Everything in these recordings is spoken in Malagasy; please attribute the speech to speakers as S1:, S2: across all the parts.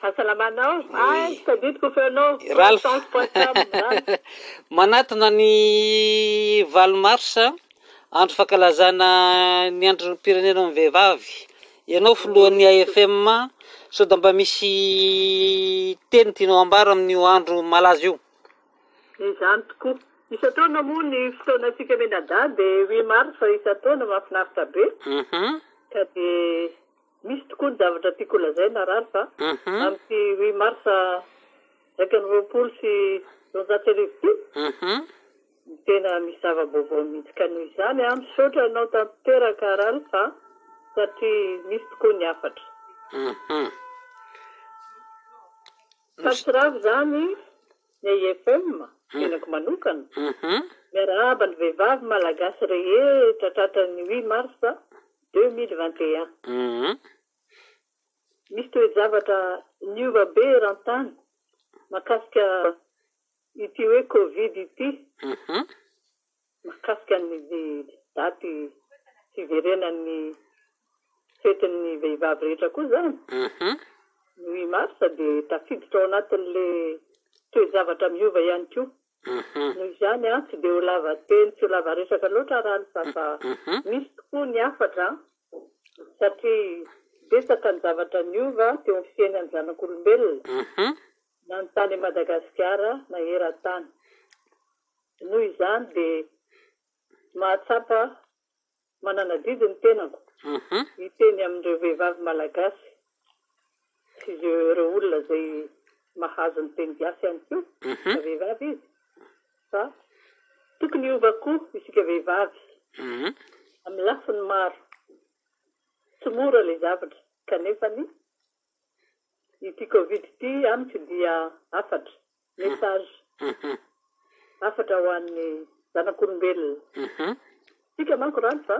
S1: Fahasalamanao. Ay, tsy tadidiko feonao. Ralph. Sans poisson, Ralph. Manatona
S2: ny valo mars, andro fankalazana ny androm-pirenenan'ny vehivavy. Ianao filohan'ny AFM, sao dia mba misy teny tianao ambara amin'io andro malaza io? Izany
S1: tokoa. Isan-taona moa ny fotoanantsika mianadahy dia huit mars isan-taona, mahafinaritra be. Ka dia. Misy tokoa ny zavatra tiako holazaina Ralph a! amin'ity huit mars iraika amby roapolo sy roanjato sy arivo ity, ny tena misy zava-baovao mihitsy ka noho izany aho misaotra anao tanteraka Ralph a! satria misy tokoa ny hafatra. Fatravo izany ny AIFM, tenako manokana, miarahaba ny vehivavy malagasy rehetra tratran'ny huit mars. deux mille vingt et un. Hum. Misy toe-javatra niova be eran-tany mahakasika ity hoe Covid ity. Hum. Mahakasika ny daty fiverenan'ny fetin'ny vehivavy rehetra koa izany. Hum. Ny huit mars dia tafiditra ao anatin'ilay toe-javatra miova ihany koa. Noho izany an, tsy dia ho lava teny, tsy ho lava resaka loatra raha alisa fa misy tokoa ny hafatra an, satria betsaka ny zavatra niova teo amin'ny fiainan'ny zanak'olombelona na ny tany Madagasikara na eran-tany. Noho izany dia mahatsapa mananadidy ny tenako hiteny amin'ireo vehivavy malagasy sy ireo olona izay mahazo ny teny gasy ihany koa na vehivavy izy fa tokony hiova koa isika vehivavy amin'ny lafiny maro. Tsy mora ilay zavatra kanefany Ity covid ity amiko dia hafatra, message, hafatra ho an'ny zanak'olombelona. Tsika manko rano fa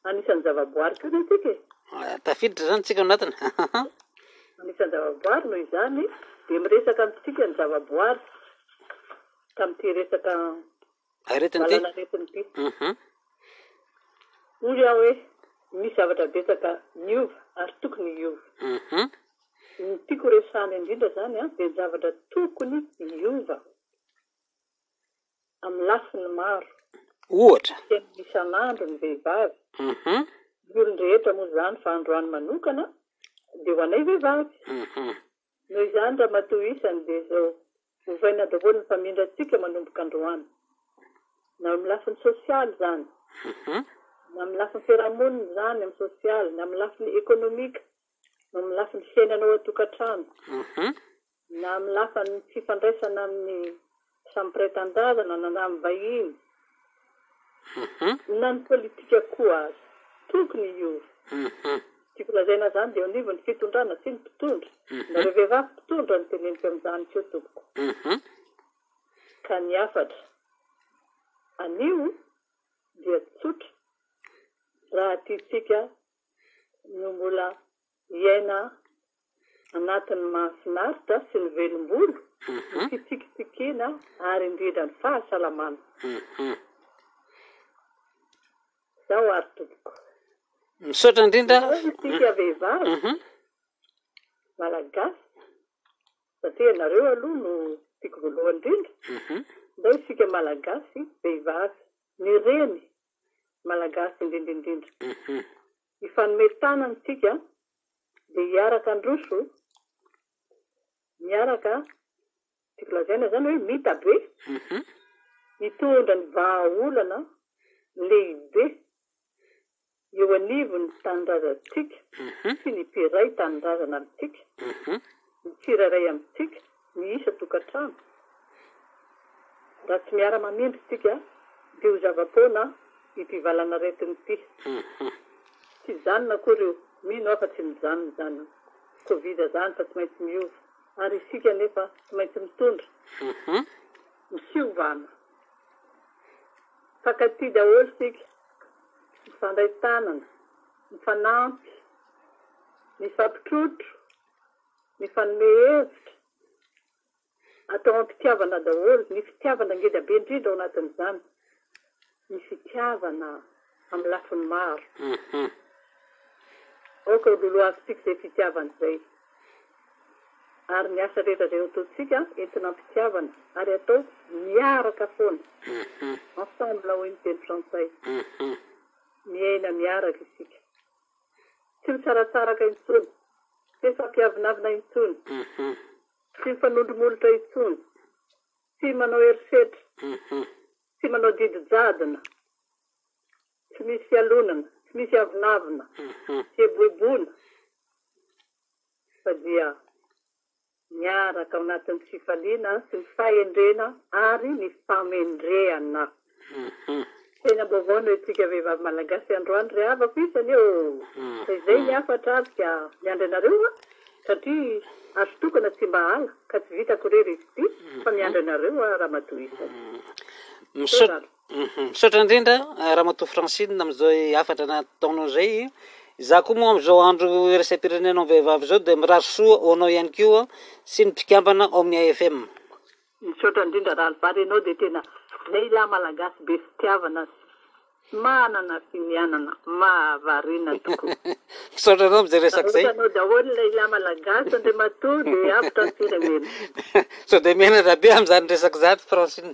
S1: anisan'ny zavaboary koa ne tsika e. Ah, tafiditra zany
S2: tsika anatiny.
S1: Anisan'ny zavaboary no izany dia miresaka amintsika ny zavaboary tamin'ity resaka Aretina ty. Valanaretina ty. Mhm. Hoy aho hoe misy zavatra betsaka niova ary tokony hiova. Mhm. Ny tiako horesahana indrindra zany an, dia ny zavatra tokony hiova amin'ny lafiny maro. Ohatra. Ny
S2: fiainana isan'andro
S1: ny vehivavy. Mhm. Ny olon-drehetra moa zany fa androany manokana dia ho anay vehivavy. Mhm. Noho izany ramatoa isany dia izao, ovaina daholo ny famindrantsika manomboka androany. Na amin'ny lafiny sosialy izany, na amin'ny lafiny fiarahamonina izany, amin'ny sosialy, na amin'ny lafiny ekonomika, na amin'ny lafiny fiainana ao an-tokantrano, na amin'ny lafiny fifandraisana amin'ny Samy pretendazana na namin'ny vahiny na ny politika koa aza. Tokony hiova. Ny tiako lazaina izany dia eo anivon'ny fitondrana sy ny mpitondra. Nareo vehivavy mpitondra no teneniko amin'izany koa tompoko. Ka ny hafatra anio dia tsotra raha tiantsika no mbola Miaina anatin'ny mahafinaritra sy ny velom-bolo, ny fitsikitsikiana ary indrindra ny fahasalamana. Izao ary tompoko. Misaotra
S2: indrindra. Izao isika vehivavy
S1: Malagasy satria ianareo aloha no tiako voalohany indrindra. Izao isika Malagasy vehivavy, ny reny Malagasy indrindra indrindra. Hifanome tanana isika dia hiaraka handroso, miaraka, tiako lazaina izany hoe mitabe, hitondra ny vahaolana lehibe eo anivon'ny tanindrazantsika sy ny mpiray tanindrazana amintsika, ny tsirairay amintsika. Ny isan-tokantrano, raha tsy miara-mamindra isika, dia ho zava-poana ity valanaretina ity. Tsy hijanona akory io, mino aho fa tsy mijanona izany io. Covid izany fa tsy maintsy miova, ary isika anefa tsy maintsy mitondra. Misiovana. Mifankatia daholo isika, mifandray tanana, mifanampy, mifampitrotro, Mifanome hevitra, atao am-pitiavana daholo. Ny fitiavana ngeda be indrindra ao anatin'izany ny fitiavana amin'ny lafiny maro. Aoka ho lolohavintsika izay fitiavana izay ary ny asa rehetra izay ataontsika entina am-pitiavana ary atao miaraka foana, ensemble hoy ny teny frantsay. Miaina miaraka isika. Tsy misaratsaraka intsony. Tsy mifampiavonavona intsony. Tsy mifanondromolotra intsony. Tsy manao herisetra. Tsy manao didy jadona. Tsy misy fialonana. Tsy misy avonavona. Tsy eboeboana. Fa dia. Miaraka ao anatin'ny fifaliana sy ny fahendrena ary ny famendrehana. Fiainam-baovao noho isika vehivavy malagasy androany ry havako isany ô! Fa izay ny hafatra ary dia miandry anareo aho satria azo tokana tsy mba hala ka tsy vitako irery izy ity fa miandry anareo aho ramatoa isany. Misaotra
S2: Misaotra indrindra ramatoa Francine amin'izao hafatra nataonao izay. Izaho koa moa amin'izao andro iraisam-pirenena amin'ny vehivavy izao dia mirary soa ho anao ihany koa sy ny mpikambana ao amin'ny AFM. Misaotra
S1: indrindra Rahalivary ianao dia tena lehilahy malagasy be fitiavana sy manana finianana mahavariana tokoa. Misaotra anao amin'izay
S2: resaka izay. Vahoakanao daholo ny lehilahy
S1: malagasy Andriamatoa dia avotra ny firenena. Sao dia
S2: menatra be amin'izany resaka izany Francine.